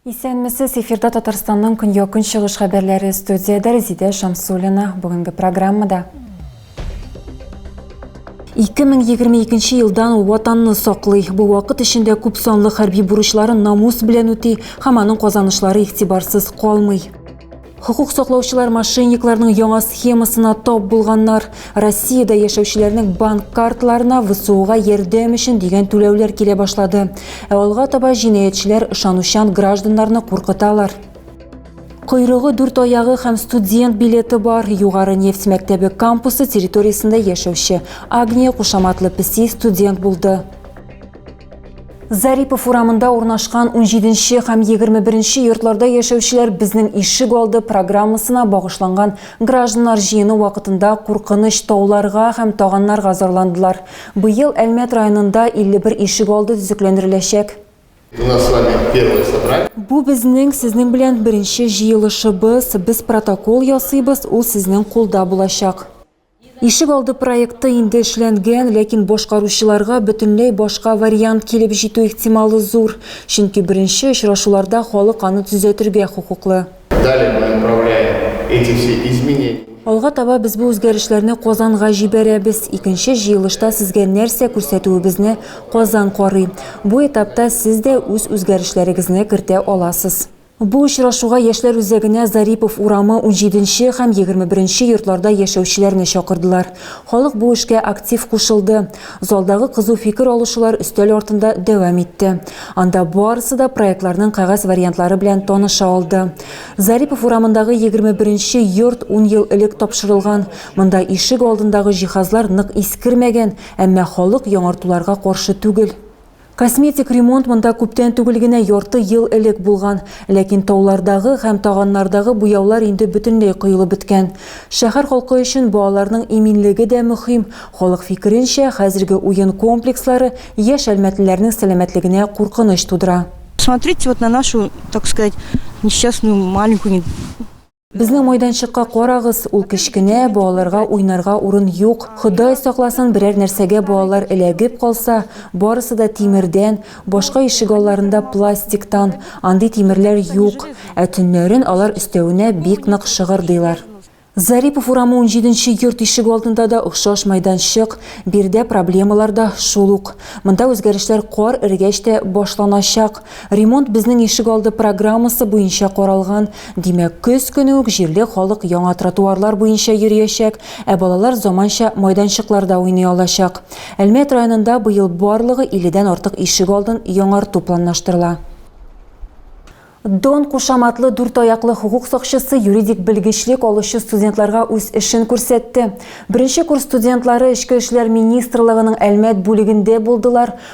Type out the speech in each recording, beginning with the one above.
Исәнмесез, эфирда Татарстанның көньяк-көнчыгыш хәбәрләре студиядә Резидә Шамсулина. Бүгенге программада 2022 елдан ул ватанны саклый. Бу вакыт эчендә күп санлы хәрби бурычларын намус белән үти һәм аның казанышлары игътибарсыз калмый. Хокук саклаучылар мошенникларның яңа схемасына тап булганнар. Россиядә яшәүчеләрнең банк картларына ВСУга ярдәм өчен дигән түләүләр килә башлады. Ә алга таба җинаятьчеләр ышанучан гражданнарны куркыталар. Койрыгы, дүрт аягы һәм студент билеты бар Югары нефть мәктәбе кампусы территориясендә яшәүче Агния кушаматлы песи студент булды. Зарипов урамында урнашкан 17 һәм 21 йортларда яшәүчеләр безнең ишек алды программасына багышланган гражданнар җыены вакытында куркыныч тауларга һәм таганнарга зарландылар. Быел Әлмәт районында 51 ишек алды төзекләндереләчәк. Бу безнең сезнең белән беренче җыелышыбыз, без протокол ясыйбыз, ул сезнең кулда булачак. Ишек алды проекты инде эшләнгән, ләкин башкаручыларга бөтенләй башка вариант килеп җитү ихтималы зур, чөнки беренче очрашуларда халык аны төзәтергә хокуклы. Алга таба без бу үзгәрешләрне Казанга җибәрәбез. Икенче җыелышта сезгә нәрсә күрсәтүебезне Казан карый. Бу этапта сез дә үз үзгәрешләрегезне кертә аласыз. Бу очрашуга Яшьләр үзәгенә Зарипов урамы унҗиденче һәм егерме беренче йортларда яшәүчеләрне чакырдылар. Халык бу эшкә актив кушылды. Залдагы кызу фикер алышулар өстәл артында дәвам итте. Анда барысы да проектларның кәгазь вариантлары белән таныша алды. Зарипов урамындагы 21 нче йорт ун ел элек тапшырылган. Монда ишек алдындагы җиһазлар нык искермәгән, әмма халык яңартуларга каршы түгел. Косметик ремонт монда күптән түгел генә ярты ел элек булган. Ләкин таулардагы һәм таганнардагы буяулар инде бөтенләй коелып беткән. Шәһәр халкы өчен балаларның иминлеге дә мөһим. Халык фикеренчә, хәзерге уен комплекслары яшь әлмәтлеләрнең сәламәтлегенә куркыныч тудыра. Смотрите вот на нашу, так сказать, несчастную маленькую. Безнең майданчыкка карагыз, ул кечкенә, балаларга уйнарга урын юк. Ходай сакласын, берәр нәрсәгә балалар эләгеп калса, барысы да тимердән, башка ишегалларында пластиктан, андый тимерләр юк, ә төннәрен алар өстәвенә бик нык шыгырдыйлар. Зарипов урамы унҗиденче йорт ишегалдында да охшаш майданчык, биредә проблемалар да шул ук. Монда үзгәрешләр кар эрегәч тә башланачак. Ремонт безнең ишегалды программасы буенча каралган, Димәк, көз көне үк җирле халык яңа тротуарлар буенча йөриячәк, ә балалар заманча майданчыкларда уйный алачак. Әлмәт районында быел барлыгы 50 дән артык ишек алдын яңарту планлаштырыла. Дон кушаматлы дүрт аяклы хокук сакчысы юридик белгечлек алучы студентларга үз эшен күрсәтте. Беренче курс студентлары Эчке эшләр министрлыгының Әлмәт бүлегендә булдылар.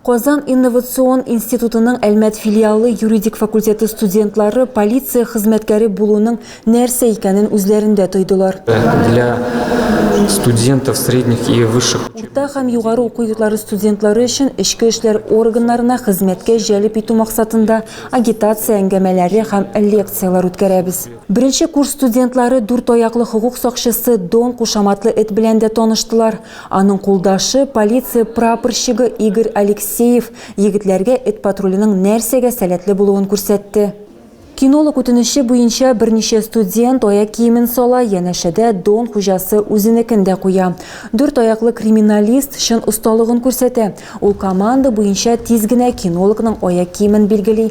Казан инновацион институтының Әлмәт филиалы юридик факультеты студентлары полиция хезмәткәре булуның нәрсә икәнен үзләрендә тойдылар. Для студентов средних и высших. Урта һәм югары уку йортлары студентлары өчен эчке эшләр органнарына хезмәткә җәлеп итү максатында агитация әңгәмәләре һәм лекцияләр үткәрәбез. Беренче курс студентлары дүрт аяклы хокук сакчысы Дон кушаматлы эт белән дә таныштылар. Аның кулдашы, полиция прапорщигы Игорь Алексеев егетләргә эт патруленең нәрсәгә сәләтле булуын күрсәтте. Кинолог үтенече буенча берничә студент аяк киемен сала, янәшәдә Дон хуҗасы үзенекен дә куя. Дүрт аяклы криминалист чын осталыгын күрсәтә. Ул команда буенча тиз генә кинологның аяк киемен билгели,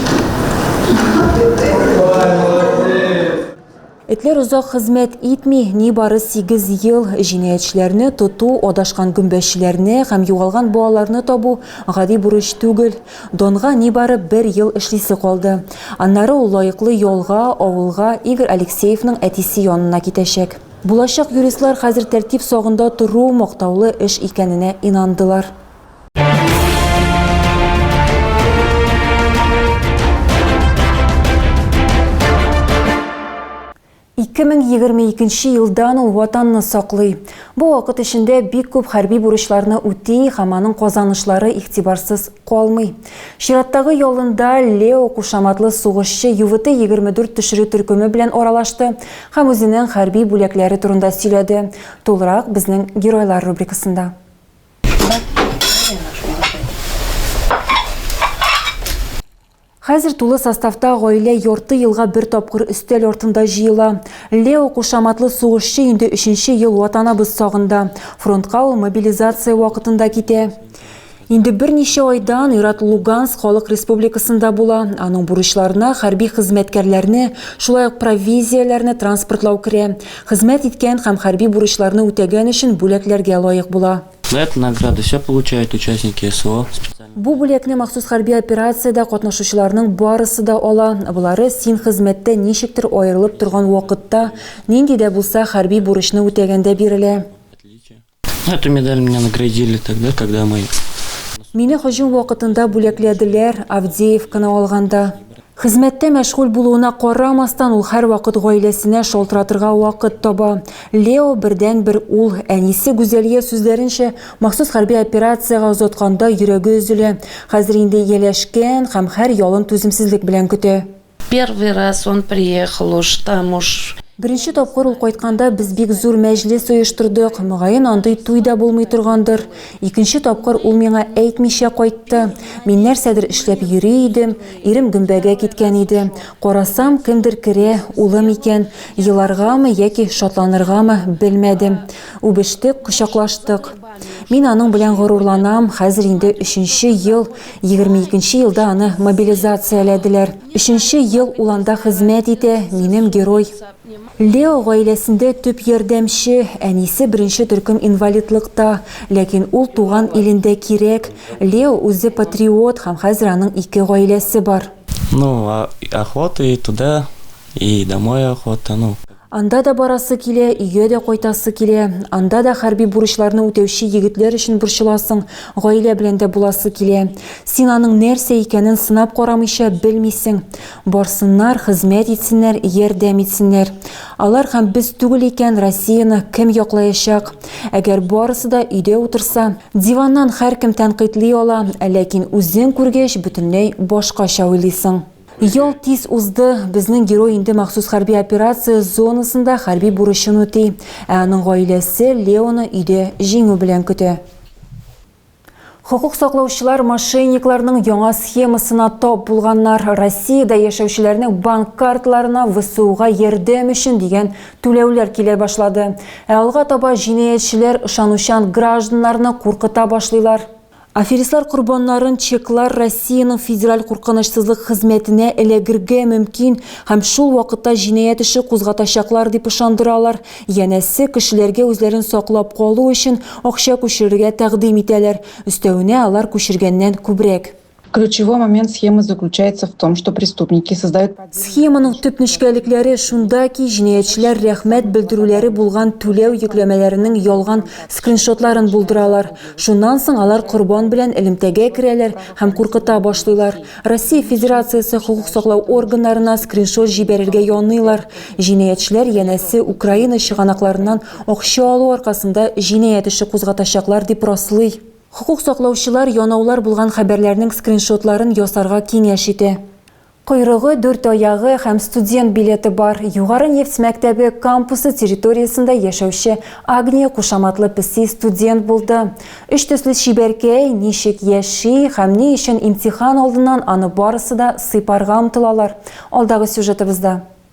Этләр озак хезмәт итми, нибары 8 ел җинаятьчеләрне тоту, адашкан гөмбәчеләрне һәм югалган балаларны табу гади бурыч түгел. Донга нибары бер ел эшлисе калды. Аннары ул лаеклы ялга, авылга, Игорь Алексеевның әтисе янына китәчәк. Булачак юристлар хәзер тәртип сагында тору мактаулы эш икәненә инандылар. Ике мең егерме икенче елдан ул ватанны саклый. Бу вакыт эчендә бик күп хәрби бурычларны үти һәм аның казанышлары игътибарсыз калмый. Чираттагы ялында Лео кушаматлы сугышчы ЮВТ-24 төшерү төркеме белән аралашты һәм үзенең хәрби бүләкләре турында сөйләде. Тулырак безнең геройлар рубрикасында. Хәзер тулы составта гаилә ярты елга бер тапкыр өстәл артында җыела. Лео кушаматлы сугышчы инде өченче ел ватанабыз сагында. Фронтка ул мобилизация вакытында китә. Инде берничә айдан Ират Луганск халык республикасында була. Аның бурычларына хәрби хезмәткәрләрне, шулай ук провизияләрне транспортлау керә. Хезмәт иткән һәм хәрби бурычларны үтәгән өчен бүләкләргә лаек була. Лет награды ся получают участники СВО, специальной. Бу бүләкне махсус хәрби операциядә катнашучыларның барысы да ала, болары син хезмәттә ничектер аерылып торган вакытта, нинди дә булса хәрби бурычны үтәгәндә бирелә. Эту медаль меня наградили тогда, когда мы... Мине һөҗүм вакытында бүләкләделәр, Авдеевканы алганда. Хезмәттә мәшгуль булуына карамастан, ул һәрвакыт гаиләсенә шалтыратырга вакыт таба. Лео бердәнбер ул. Әнисе Гүзәлия сүзләренчә, махсус хәрби операциягә озатканда йөрәге өзелә. Хәзер инде ияләшкән һәм һәр ялын түземсезлек белән көтә. Первый раз он приехал уж там уж. Беренче тапкыр ул кайтканда без бик зур мәҗлес оештырдык, мөгаен андый туй да булмый торгандыр. Икенче тапкыр ул миңа әйтмичә кайтты. Мин нәрсәдер эшләп йөри идем, ирем гөмбәгә киткән иде. Карасам, кемдер керә, улым икән. Еларгамы яки шатланыргамы, белмәдем. Үбештек, кочаклаштык. Мин аның белән горурланам. Хәзер инде өченче ел, 22 елда аны мобилизацияләделәр. Өченче ел ул анда хезмәт итә, минем герой. Лео гаиләсендә төп ярдәмче, әнисе беренче төркем инвалидлыкта. Ләкин ул туган илендә кирәк. Лео үзе патриот һәм хәзер аның ике гаиләсе бар. Ну, охота и туда, и домой охота, ну. Анда да барасы килә, өйгә дә кайтасы килә. Анда да хәрби бурычларны үтәүче егетләр өчен борчыласың, гаилә белән дә буласы килә. Син аның нәрсә икәнен сынап карамыйча белмисең. Барсыннар, хезмәт итсеннәр, ярдәм итсеннәр. Алар һәм без түгел икән, Россияне кем яклаячак? Әгәр барысы да өйдә утырса, диваннан һәркем тәнкыйтьли ала, ләкин үзең күргәч, бөтенләй башкача уйлыйсың. Ел тиз узды. Безнең герой инде махсус хәрби операция зонасында хәрби бурычын үти, ә аның гаиләсе Леоны өйдә җиңү белән көтә. Хокук саклаучылар мошенникларның яңа схемасына тап булганнар. Россиядә яшәүчеләрнең банк карталарына ВСУга ярдәм өчен дигән түләүләр килә башлады. Ә алга таба җинаятьчеләр ышанучан гражданнарны куркыта башлыйлар. Аферистлар корбаннарын чеклар Россиянең Федераль куркынычсызлык хезмәтенә эләгергә мөмкин һәм шул вакытта җинаять эше кузгатачаклар дип ышандыралар, янәсе, кешеләргә үзләрен саклап калу өчен акча күчерергә тәкъдим итәләр, өстәвенә алар күчергәннән күбрәк. Ключевой момент схемы заключается в том, что преступники создают... Схеманың төп нечкәлекләре шунда ки, җинаятьчеләр рәхмәт белдерүләре булган түләү йөкләмәләренең ялган скриншотларын булдыралар. Шуннан соң алар корбан белән элемтәгә керәләр һәм куркыта башлыйлар. Россия Федерациясе хокук саклау органнарына скриншот җибәрергә яныйлар. Җинаятьчеләр, янәсе, Украина чыганакларыннан акча алу аркасында җинаять эше кузгатачаклар дип раслый. Хокук саклаучылар янаулар булган хәбәрләрнең скриншотларын ясарга киңәш итә. Койрыгы, дүрт аягы һәм студент билеты бар, Югары нефть мәктәбе кампусы территориясендә яшәүче Агния кушаматлы песи студент булды. Өч төсле чибәркәй ничек яши һәм ни өчен имтихан алдыннан аны барысы да сыйпарга омтылалар, алдагы сюжетыбызда.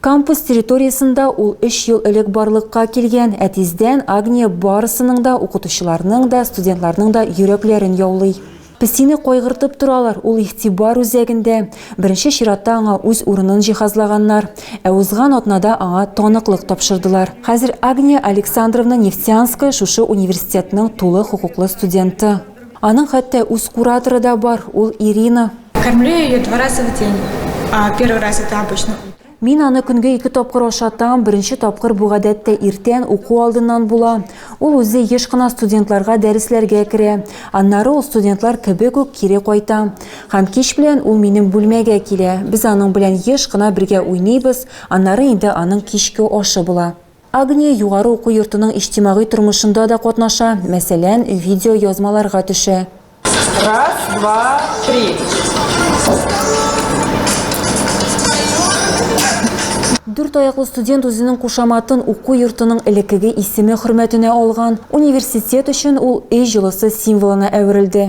Кампус территориясендә ул өч ел элек барлыкка килгән, ә тиздән Агния барысының да, укытучыларның да, студентларның да йөрәкләрен яулый. Песине кайгыртып торалар, ул игътибар үзәгендә. Беренче чиратта аңа үз урынын җиһазлаганнар. Ә узган атнада аңа таныклык тапшырдылар. Хәзер Агния Александровна Нефтянская шушы университетның тулы хокуклы студенты. Аның хәтта үз кураторы да бар, ул Ирина. Кормлю ее два раза в день. Первый раз это обычно Мин аны көнгә ике тапкыр ашатам. Беренче тапкыр бу гадәттә иртән уку алдыннан була. Ул үзе еш кына студентларга дәресләргә керә. Аннары ул студентлар кебек үк кире кайта. Һәм кич белән ул минем бүлмәгә килә. Без аның белән еш кына бергә уйныйбыз, аннары инде аның кичке ашы була. Агния югары уку йортының иҗтимагый тормышында да катнаша, мәсәлән, видеоязмаларга төшә. Раз, два, три. Дүрт аяклы студент үзенең кушаматын уку йортының элеккеге исеме хөрмәтенә алган. Университет өчен ул өй җылысы символына әверелде.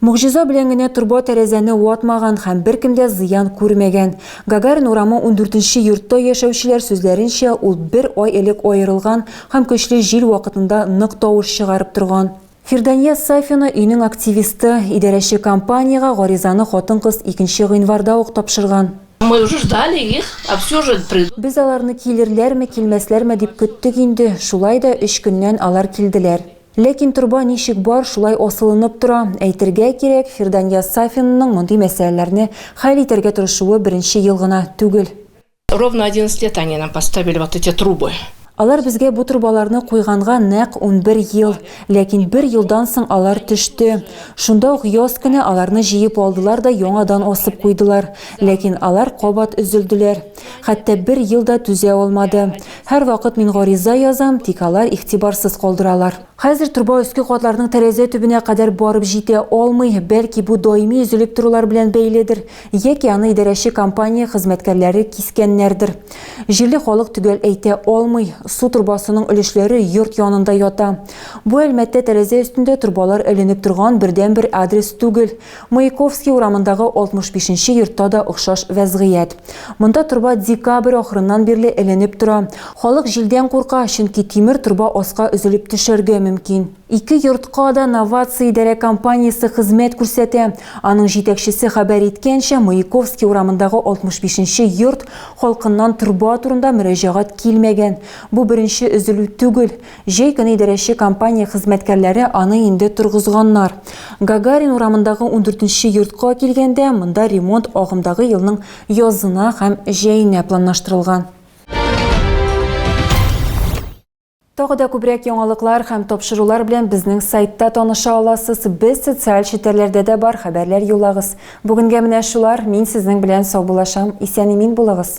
Могҗиза белән генә торба тәрәзәне ватмаган һәм беркем дә зыян күрмәгән. Гагарин урамы ундүртенче йортта яшәүчеләр сүзләренчә, ул бер ай элек аерылган һәм көчле җил вакытында нык тавыш чыгарып торган. Фирдания Сафина өйнең активисты, идарәче компаниягә гаризаны хатын-кыз икенче гыйнварда ук тапшырган. Мы уже ждали их, а все же придут. Без аларны килерләрме, килмәсләрме дип көттек инде, шулай да өч көннән алар килделәр. Ләкин торба ничек бар, шулай асылынып тора. Әйтергә кирәк, Фирдания Сафинның мондый мәсьәләләрне хәл итәргә тырышуы беренче ел гына түгел. Ровно одиннадцать лет они нам поставили вот эти трубы. Алар безгә бу торбаларны куйганга нәкъ унбер ел. Ләкин бер елдан соң алар төште. Шунда ук яз көне аларны җыеп алдылар да яңадан асып куйдылар. Ләкин алар кабат өзелделәр. Хәтта бер ел да түзә алмады. Һәрвакыт мин гариза язам, тик алар игътибарсыз калдыралар. Хәзер труба өске катларның тәрәзә төбенә кадәр барып җитә алмый, бәлки бу даими өзелеп торулар белән бәйледер, яки аны идарәче компания хезмәткәрләре кискәннәрдер. Җирле халык төгәл әйтә алмый, су торбасының өлешләре йорт янында ята. Бу Әлмәттә тәрәзә өстендә торбалар эленеп торган бердәнбер адрес түгел, Маяковский урамындагы 65 нче йортта да охшаш вәзгыять. Монда торба декабрь ахырыннан бирле эленеп тора. Халык җилдән курка, чөнки тимер торба аска өзелеп төшәргә мөмкин. Ике йортка да Новация идарә компаниясе хезмәт күрсәтә. Аның җитәкчесе хәбәр иткәнчә, Маяковский урамындагы 65 нче йорт халкыннан торба турында мөрәҗәгать килмәгән. Бу беренче өзелү түгел. Җәй көне идарәче компания хезмәткәрләре аны инде торгызганнар. Гагарин урамындагы ундүртенче йортка килгәндә, монда ремонт агымдагы елның язына һәм җәенә планлаштырылган. Тагы да күбрәк яңалыклар һәм тапшырулар белән безнең сайтта таныша аласыз. Без социаль челтәрләрдә дә бар, хәбәрләр юллагыз. Бүгенгә менә шулар, мин сезнең белән саубуллашам. Исән-имин булыгыз!